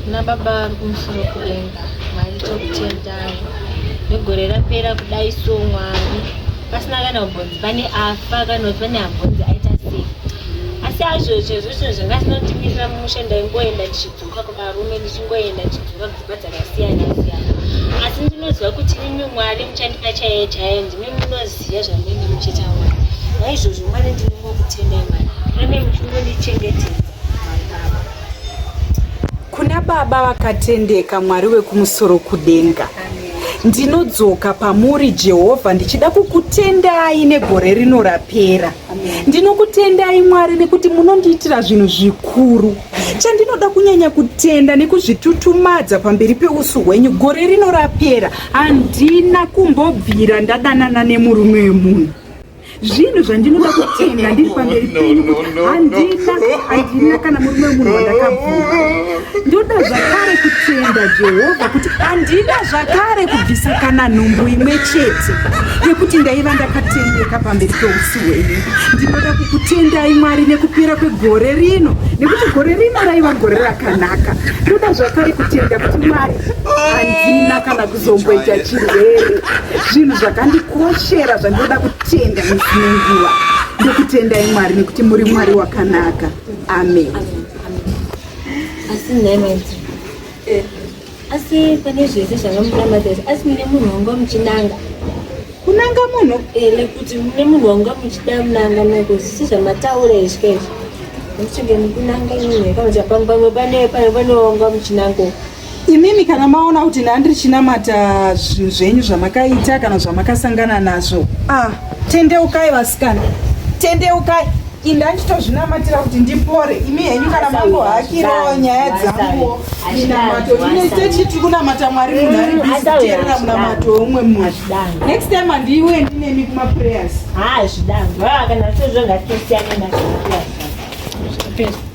nababa vari kumusoro kudenga mwari tokutendai negore rapera kudai so mwari pasina kana ubvunzi pane afa kana kuti pane abvunzi aita sei asi azvo chezvo chinhu zvanga zinotimirira mumusha ndaingoenda ndichidzoka kuvarume ndichingoenda ndichidzoka kudzimba dzakasiyana siyana asi ndinonzwa kuti imi mwari muchandipa chaiye chaiye ndimi munoziva zvandinenge muchitaura naizvozvo mwari ndinongokutendai mwari rane muchingondichengete Kuna Baba vakatendeka, Mwari wekumusoro kudenga. Ndinodzoka pamuri Jehovha ndichida kukutendai negore rino rapera. Ndinokutendai Mwari nekuti munondiitira zvinhu zvikuru. Chandinoda kunyanya kutenda nekuzvitutumadza pamberi peusu hwenyu gore rino rapera handina kumbobvira ndadanana nemurume wemunhu. zvinhu zvandinoda kutenda ndiri pamberi penyu kuti handina handina kana murume wemunhu wandakabvuma ndoda zvakare kutenda jehovha kuti handina zvakare kubvisa kana nhumbu imwe chete yekuti ndaiva ndakatendeka pamberi peusi hwenyu ndinoda kukutendai mwari nekupera kwegore rino nekuti gore rino raiva gore rakanaka ndoda zvakare kutenda kuti mwari handina kana zomboita chirwere zvinhu zvakandikoshera zvandinoda kutenda misi nenguva ndokutendai mwari nekuti muri mwari wakanaka amen asi nhaimati eh, asi pane zvese zvanga munamatesa asi mune munhu wanga muchinanga kunanga munhu ele eh, kuti mune munhu wanga muchida munanga nako zvisi zvamataura izvika izvi muchinge mukunanga imwe kana kuti pamwe pamwe pane pane pane wanga muchinango imimi kana maona kuti ndandiri chinamata zvinhu zvenyu zvamakaita kana zvamakasangana nazvo ah tendeukai vasikana tendeukai indanditozvinamatira kuti ndipore imi henyu kana mambo hakirawo nyaya dzanguwo minamato ine techi tiri kunamata mwari munhu ari biteerera munamato weumwe munhu next time handiiwe ndinemi kumaprayers ha zvidangu kana sezvo ngatosiyanenaa